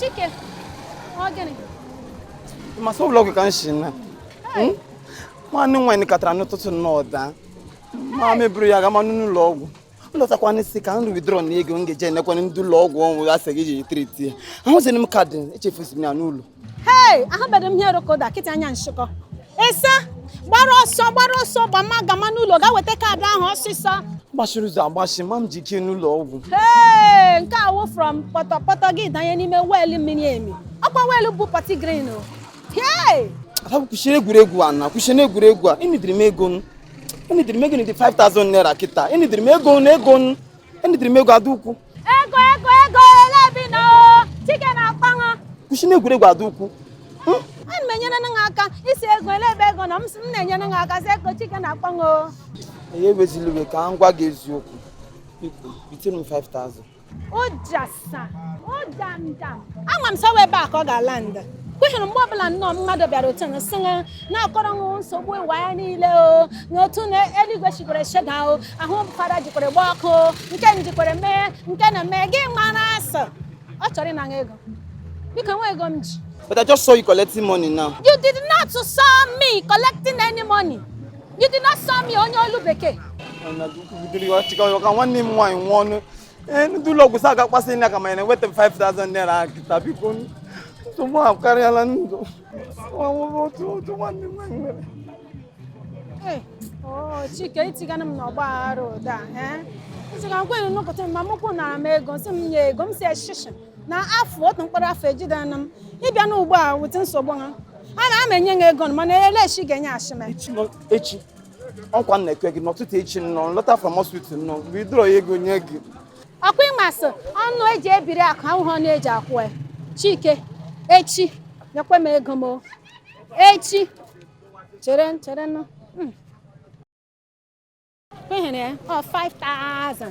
Chike, ọ gịnị? Ma sọ ụlọ ọgwụ ka m si na. Hmm? Nwanne m nwaanyị katara n'ụtụtụ nnọọ daa. Ma m eburu ya gama n'ụlọ ọgwụ. Lọtakwanụ sị ka m withdraw na ego m ga-eji enyekwa ndị ụlọ ọgwụ ọ wụ ha sị ga-eji triti ya. Ahụzighị m kaadị echefusi m ya n'ụlọ. hei ahụbeghị m ihe rokoda kịta anya nshịkọ ese gbara ọsọ gbara ọsọ gbama gama n'ụlọ ga weta kaadị ahụ ọsịsọ gbachiri ụzọ agbachi ma m ji ike n'ụlọ ọgwụ hei nke awụ from pọtọpọtọ gị danye n'ime weelụ miri emi ọkwa weelụ bụ pati grin o hei ada kwụsịrị egwuregwu a na kwụsịrị egwuregwu a enidiri m ego m enidiri m ego nidi 5000 naira kịta enidiri m ego m ego m enidiri m ego dee ukwu ego ego ego ele bi na chike na-akpọ ṅụ kwụsị na egwuregwu dee ukwu hmm? ana m enyere nụ aka isi ego ele ebe ego na m sị m na-enyere nụ aka si ego chike na-akpọ ṅụ ya ewezila iwe ka m gwa gị eziokwu biko bitere m 5000 ụja ama m sị ọ wụ ebe a ka ọ ga-ala nda kweghịrị mgbe ọbụla nnọọ mmadụ bịara otu na sịṅa na-akọrọ ṅụ nsogbu ụwa ya niile o na otu na eluigwe chikwere sheda o ahụ fada jikwere gba ọkụ nke m jikwere mee nke na-eme gị mara sị ọ chọrọ ịnaṅa ego biko nwa ego m ji But I just saw you collecting money now. You did not saw me collecting any money. You did not saw me onye olu bekee. Nwanne m nwaanyị nwụọ ee ndị ụlọ ọgwụ sị ha ga-akpasị na ka ma ya na-enweta m 5000 naira ahụ kịta biko nsogbu ahụ karịala ndụ Nwa nwoke otu otu nwanne m nwaanyị nwere Hey, oh, Chike itigana m n'ọgba aghara ụda nsị ka nkwenye nụkọta ma mụ kwụnara m ego nsị m nye ego m si shishi na afụ otu mkpụrụ afụ ejidana m ịbịa n'ugbo a wute nsogbu ha a na ama enye m ego mana elechi ga-enyeashị m echi nọ- echi ọkwa m na-ekwe gị n'ụtụtụ echi nnọọ lọta from hospital nnọọ m gaa withdraw ego nye gị ọkwa ị ma sị ọnụ eji ebiri akụ awụhụ ọnụ eji akwụ ya chike echi nyekwa m ego m o. echi chere chere nụ Hmm. Kwenyere ya ọ 5000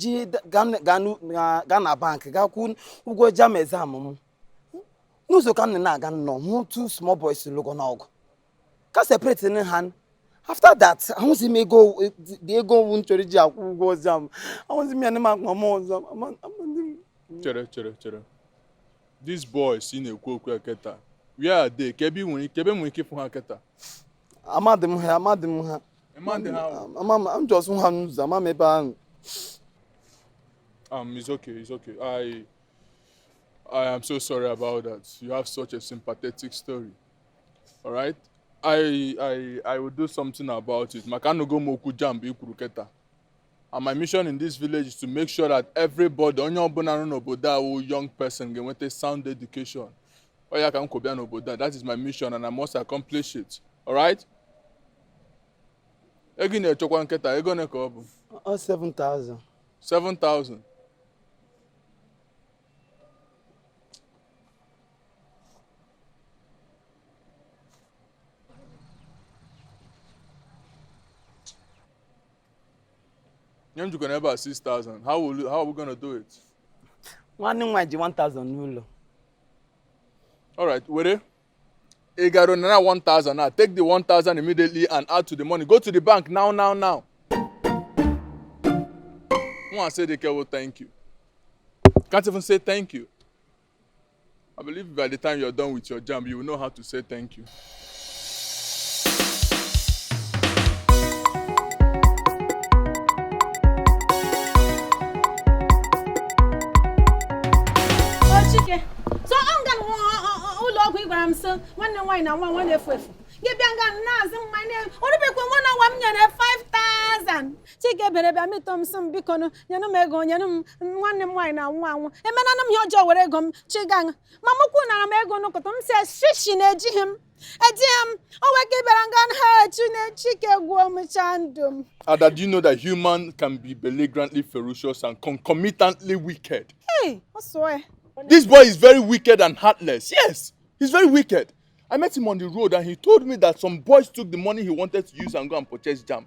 ji gaa na bankị gaa kwụọ ụgwọ JAMB exam m n'ụzọ ka m na-aga nnọọ hụ two small boys lụganụ ọgụ ka m separate nụ ha after that ahụzi m ego dị ego ọ wụ m chọrọ iji akwụ ụgwọ ọzọ m ahụzi m ya n'ime akpa m ọzọ chere chere chere these boys ị na-ekwu okwu ya kịta where are they kee ebe m nwere ike ebe m nwere ike ịfụ ha kịta amadị m ha amadị m ha Ị ma ndị ha wụ? ama m m jọs hụ ha n'ụzọ ama m ebe ahụ Um, it's okay, it's okay. I I am so sorry about that. You have such a sympathetic story. All right? I I I will do something about it. Maka anụgo m okwu JAMB i kwuru kịta. And my mission in this village is to make sure that everybody, onye ọbụla nọ n'obodo a wụ young person ga-enweta sound education. Ọ ya ka m kwo bịa n'obodo a. That is my mission and I must accomplish it. All right? Ego ị na-achọkwanụ kịta, ego ole ka ọ bụ? Ọ 7,000. 7,000. nye m jikwana ebe a 6000 how will you, how are we gonna do it nwanne nwa ji 1000 n'ụlọ all right were ị gara nara 1000 now take the 1000 immediately and add to the money go to the bank now now now nwa say the kewo thank you can't even say thank you I believe by the time you're done with your JAMB, you will know how to say thank you. Chike so ọ nga ụlọ ọgwụ ị gwara m sị nwanne m nwaanyị na-anwụ anwụ na-efu efu gị bịa nga na-azụ mmanya o rubekwa one hour m nyere 5000 Chike bere bịa mịtọ m sị m biko nụ nyenụ m ego nyenụ m nwanne m nwaanyị na-anwụ anwụ emenanụ m ihe ọjọọ were ego m chigaṅụ ma mụ kwuo nara m ego n'ụkụtụ m sị shishi na ejighị m ejighị m o nwee ike ịbịara nga na ha echi na Chike gwuo m chaa ndụ m Ada, do you know that human can be belligerently ferocious and concomitantly wicked? ei ọ sụọ ya This boy is very wicked and heartless. Yes, he's very wicked. I met him on the road and he told me that some boys took the money he wanted to use and go and purchase JAMB.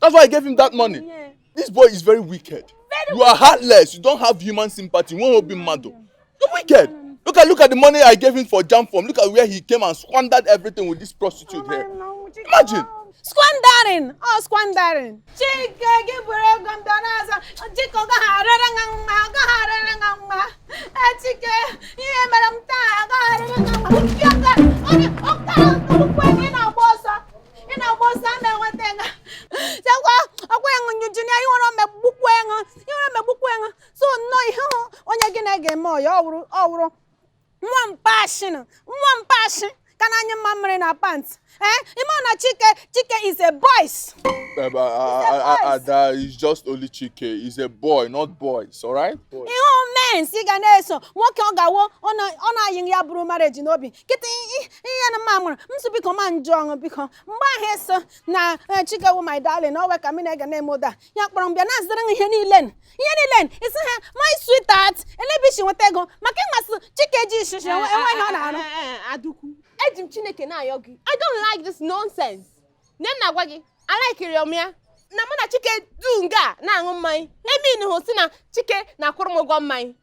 That's why I gave him that money. Yeah. This boy is very wicked. Very you are heartless. You don't have human sympathy. Why won't you be mad. You're wicked. Look at look at the money I gave him for JAMB form. Look at where he came and squandered everything with this prostitute here. Imagine. Squandering! Oh, squandering! Chike gị buru ego m bịa na-azụ Chike ọ gaghị arịrị gị mma ọ gaghị arịrị gị mma Chike ihe i mere m taa ọ gaghị arịrị gị mma Chike ọ gaghị arịrị gị mma ị na-agba ọsọ a na-enweta ego sekwa ọkwa ịṅụ njuju na ihere megbukwa gị ihere megbukwa gị so nnọọ ihe hụ onye gị na ya ga-eme ọyị ọ wụrụ ọ wụrụ nwa mpashin nwa mpashi ka na-anyụ mamịrị na pant ee ị ma na Chike Chike is a boys Um, uh, uh, uh, uh, Ada is just only Chike. He's a boy, not boys, all right? Boy. ihe ọ means ị ga na-eso nwoke ọ ga-awụ ọ na- ọ na-ayị ya buru marriage n'obi kịta ihe na mma mụrụ m sị biko ma njụ ọṅụ biko mgbe ahụ eso na eh, Chike wụ my darling owe ka m na-ege na-eme ụda ya kpọrọ m bịa na-azụrụ m ihe niile n- ihe niile n- isi ha my sweetheart elee ebe o si nweta ego maka ị ma sị Chike ejighị shishi enwe enwe ihe ọ na-arụ Eh, eh, eh, Adaukwu, eji m Chineke na-ayọ gị. I don't like this nonsense. Nne m na-agwa gị, alaikiri m ya. Na mụ na Chike nọ nga na-aṅụ mmanya. Emeanhụ sị na Chike na-akwụrụ m ụgwọ mmanya.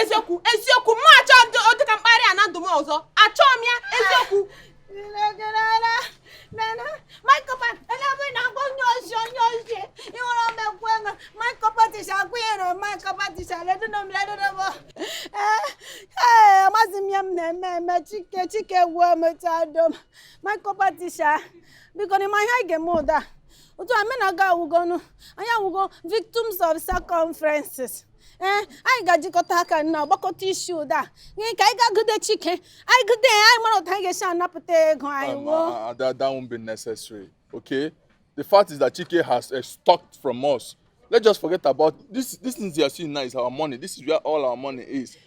eziokwu eziokwu mụ achọ dịka mkparị a na ndụ m ọzọ achọ m ya eziokwu amazi m ihe m na-eme eme chike chike gwuo mechado m maịkọpatisha biko n'ime ihe anyị ga-eme ụda otu a mụ na gị awụgo ọnụ anyị awụgo victims of circumferences ee anyị ga-ajikọta aka na gbakọta isi ụda a gịnị ka anyị ga-agụde chike anyị gụde ya anyị mara otu anyị ga-esi anapụta ego anyị Um, well uh, uh, that, that won't be necessary. Okay? The fact is that Chike has uh, stocked from us. Let's just forget about this. This things you are seeing now is our money. This is where all our money is.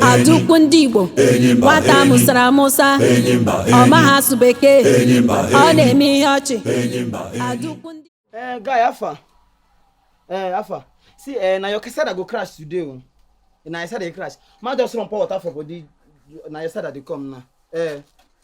Adaukwu ndị igbo nwata mụsara amụsa ọ maghị asụ bekee ọ na-eme ihe ọchị Adaukwu ndị Eh, guy, how far. Eh, how far. See, eh, na your Kesada go crash today. oh. Na your Kesada dey crash. Man just run pour water for body. Na your Kesada dey come now. Eh,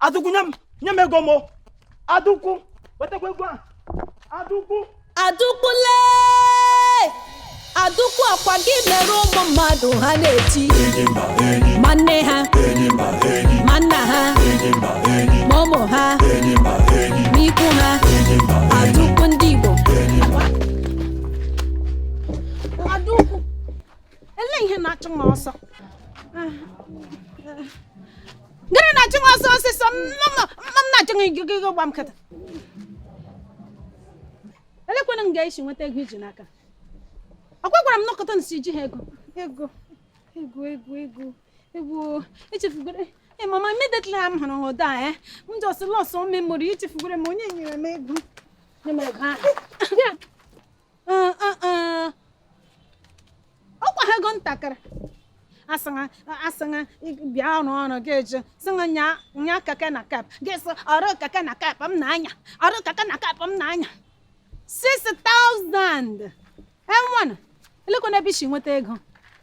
Adaukwu nye m nye m ego m Adaukwu wetakwa ego a Adaukwu Adaukwu lee Adaukwu ọ kwa gị mere ụmụ mmadụ ha na-eti ma nne ha ma nna ha ma ụmụ ha ma ikwu ha Adaukwu ndị Igbo Adaukwu, ele ihe na-achụ m ọsọ? Gịnị na-achụ m ọsọ ọsịsọ? Mma m na-achụ gị gị gba m kata. Elekwanụ nga i si nweta ego i ji n'aka. Ọ gwagwara m nọkọta nsi ji ha ego. Ego, ego, ego, ego, ego, echefugoro. Ee, mama, immediately m hụrụ ha ụda eh? m just lost all memory, echefugoro m onye nyere m ego. Nye m ego ahụ. Ee, ee, ee. ọ kwa ego ntakịrị asịṅa asịṅa bịa rụọ ọrụ gị eje sịṅa nya nya keke na kep gị sị ọrụ keke na kep m na-anya ọrụ keke na kep m na-anya 6000 enwenụ elekwanụ ebe i si nweta ego